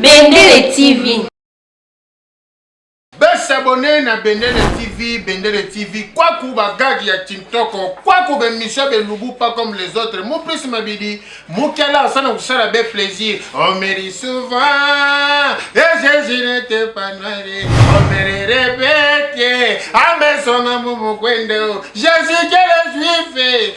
Bendele TV. Besabone na Bendele TV, Bendele TV, kwaku bagagi ya Tintoko, kwaku bemisio belubu pas comme les autres. Mon plus mabidi, mukela asana kusala be plaisir. On me dit souvent, et eh, Jésus n'était pas noir, on me le répète, à mes sons, à mon Jésus, quel juif,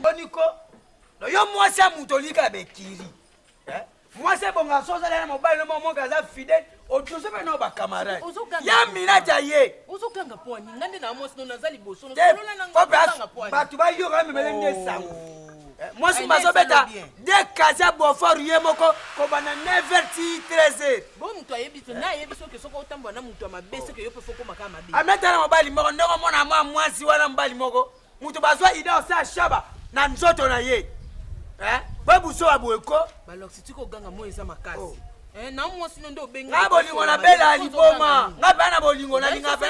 boniko no yo mwasi ya moto olika bekiri eh? mwasi ebonga so ozala na mobali no momoke aza fidèle otuze mpe nao bacamarade ya minati aye bato bayoka memele nde esango oh. eh, mwasi bazobeta de kasi ya bofor ye moko kobanda 9 ti 13 ametala mobali moko ndenge omona mwa mwasi wana mobali moko Mutu bazwa idée osa shaba na nzoto na ye. Eh? Ba buso wa boyeko. Ba loxi tiko ganga moyo eza makasi. Oh. Eh, na mwasi no nde obengi nga bolingo na bela liboma nga mpe na bolingo nalinga mpe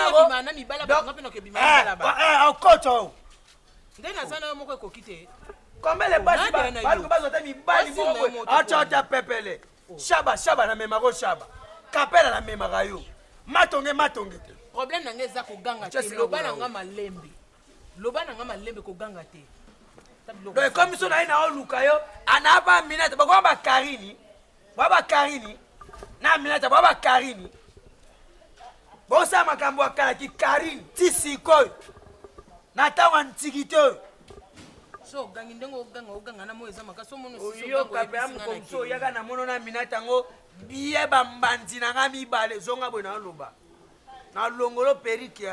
naokoto nde naza na yo moko ekoki te kombele basi baluka bazwa te mibali moko acota pepele Shaba shaba na mema ko shaba. Kapela na mema ka yo. Matonge matonge te. Problème na nga eza ko ganga te. Loba na nga malembe. Loba na nga malembe ko ganga te. Donc comme so na ina oluka yo ana ba minata ba kwa ba Karini. Ba ba Karini. Na minata ba ba Karini. Bosa makambo ya kala ki Carine ti sikoyo na ntango ya ntikite oyo so ogangi ndenge oganga oganga na moi eza makasi oyoka mpe amkomso oyaka na mono na minata yango biye bambanzi na ngai mibale zonga boye naoloba na longolo perike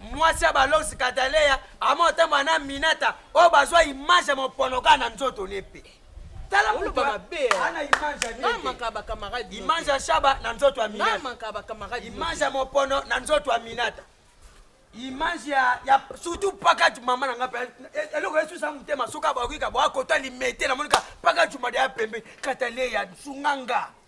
mwasi ya balox kataleya amo otambola na minata oyo bazwa image ya mopono kaka na nzoto ne mpe tala moto mabe ana image ya nete image ya shaba na nzoto ya minata image ya mopono na nzoto ya minata image ya, ya surtout pakati mama na nga mpe eloko esusa motema soki abakoki ka boakota limete namonika pakati mada ya pembe kataleya sunga nga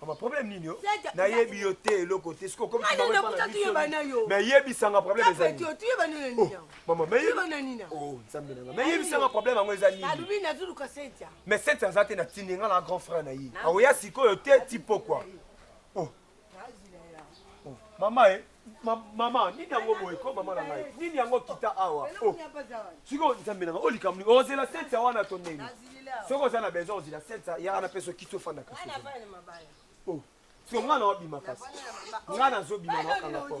Mama problème nini yo? Nayebi yo te eloko te. Siko comme tu m'avais pas la vie. Mais yebisa nga problème eza nini? Tu yeba nini nini? Oh, mama, mais yeba nini nini? Oh, nzambe nanga. Mais yebisa nga problème yango eza nini? Alubi na zulu ka sentia. Mais sentia azate na tindi nga na grand frère na ye. Aoya sikoyo te tipo quoi. Oh. Oh, mama eh. Ma, mama nini yango boye ko mama na ngai nini yango kita awa oh. sikoyo nzambe na ngai olikamni oh, ozela sensa wana to ndenge soki oza na besoin ozela sensa ya wana mpeso kiti ofandaka oh. siko ngai na wabima kasi ngai nazobima na wakanga po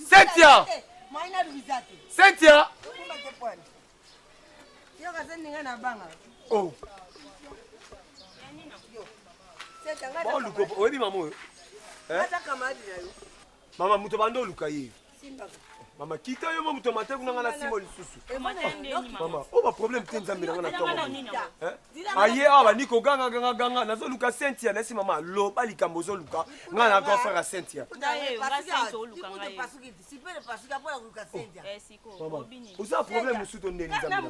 Cynthia Cynthia Oh oluka oyebi mama oyo mama moto banda oluka ye mama kita yo mo moto matako na ngai na nsima lisusu mama oyo baproblème te nzambe na ngai na ntongo aye awa bandi koganga ganga ganga nazoluka cynthia nasi mama loba likambo ozoluka ngai na grand frère ya cynthia oza problème mosusu to ndeni nzambe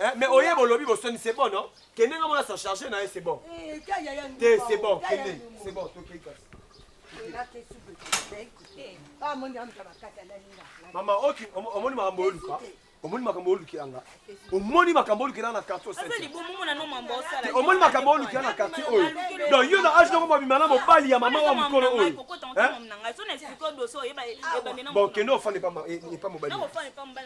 Eh, mais oye bolobi bosoni c'est bon non kende nga mona sa charge na ye c'est bon eh, te c'est bon kende c'est bon tokei kasi mama oki omoni makambo oluka omoni makambo olukela nga omoni makambo olukela na quartier omoni makambo olukela na quartier oyo donc yo na age noko mobima na mobali ya mama wa mokolo oyo bon kende ofanda epa mobali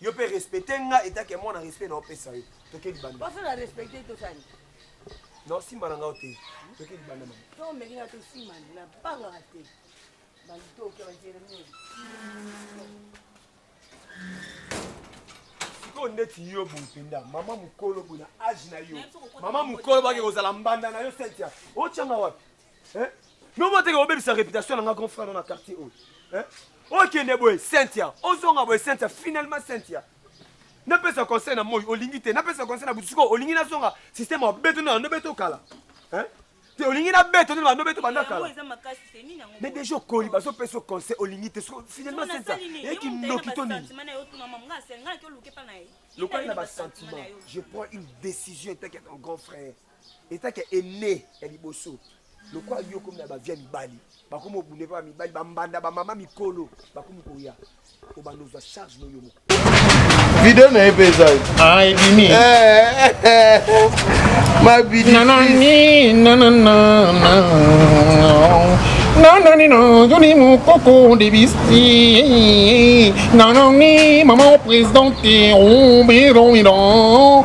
Yo pe respecter nga et que moi na respect na opesa yo. Toke libanda. Pas na respecter to sani. Non, si mbana nga ote. Toke libanda mama. To meli na to si mbana na banga te. Bali to ke ba jeremie. sikoyo ndeti yo boye mpenza mama mokolo boye na age na yo mama mokolo bake kozala mbanda na yo sentia otyanga wapi Hein? Non moi teke obebisa réputation na nga grand frère na quartier oyo. Hein? Okende boye Cynthia, ozonga boye Cynthia, finalement Cynthia. Napesa conseil na moi olingi te, napesa conseil na butusuko olingi nazonga système ya beto na ndo beto kala. Hein? te olingi na beto nde bando beto banda kala me deja okoli bazopesa conseil olingi te finalement sesa eyaki ndoki to nini lokola na basentiment je prends une décision etaki ya ton grand frère etake ene ya liboso lokola yo okomi na bavia mibali bakomi obunde mpe bamibali bambanda bamama mikolo bakomi koya obanda ozwa charge no yo moko video na ye mpe eza ah, ebimi mabidi nananino yoni mokoko debisi nanani mama presidente oberomidan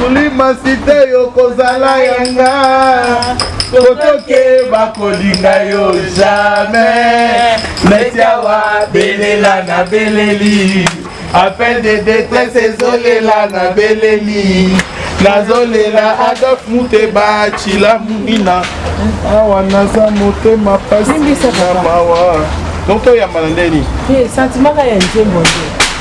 kulima site yo kozala yanga kotoke bakolinga yo jamais metiawa belela na beleli appel de détresse ezolela na beleli nazolela adolf muteba cila munina awa naza motema pasi na mawa donc toyambana ndeni eh, sentiment ka ya nzembo nde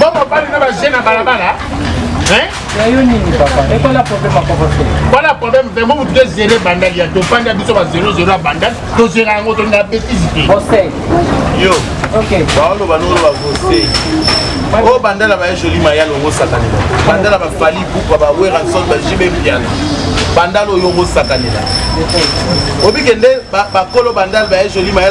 bo mobali na baje na balabala voilà problème vraiment vous devez gérer bandal ya tofandi ya biso ba 00 ya bandal tozela yango tolinga bétise te yo baoloba nolo bakose oyo oh, bandala baye joli maya longo sakanela bandala bafali buka baweranson bajibe mpiana bandala oyo ongo sakanela obike nde bakolo bandala baye joli maya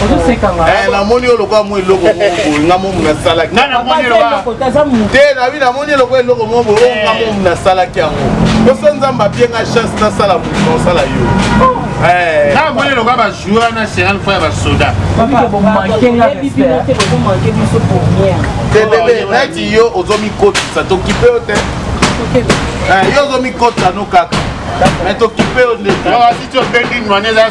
Eh, namoni yo lokola mwa eloko nga momu nasalaki te nabi namoni eloko eloko moko boye eh. nga momu nasalaki yango poso nzambe apie nga chance nasala moto nasala yo oh. eh. namoni eloka bajoueur na seral fo ya basoda tebebe neti yo ozomikotisa tokipe yo te yo ozomikotisa no kaka me tokipe yo ndeko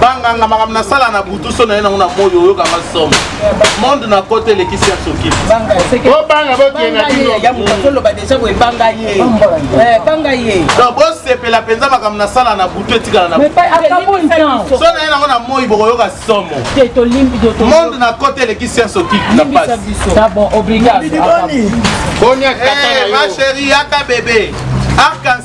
banganga makambo nasala na butu so naye nango na moi oyokanga somo monde na kote elekisi ya soki bobanga bokenda bosepela mpenza makambo nasala na butu etikala na so naye nango na moi bokoyoka somo monde na kote elekisi ya soki na pasi ma chérie yaka bebe arc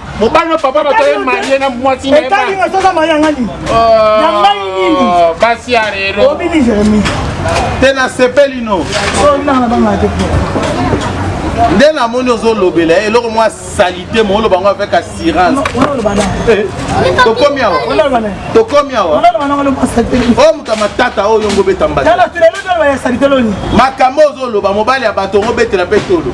mobali na papa bato ye marie na mwasi etali nga soza marie yanga nini oh, ya ngai nini basi ya lelo obini jeremi te na sepeli no oh, nanga banga te nde namoni ozolobela ye eloko mwa salite mo oloba yango avec assurance eh, tokomi awa tokomi awa oyo moto ya matata oyo yongo obeta mbata makambo ozoloba mobali ya bato ongo obetela mpe tolo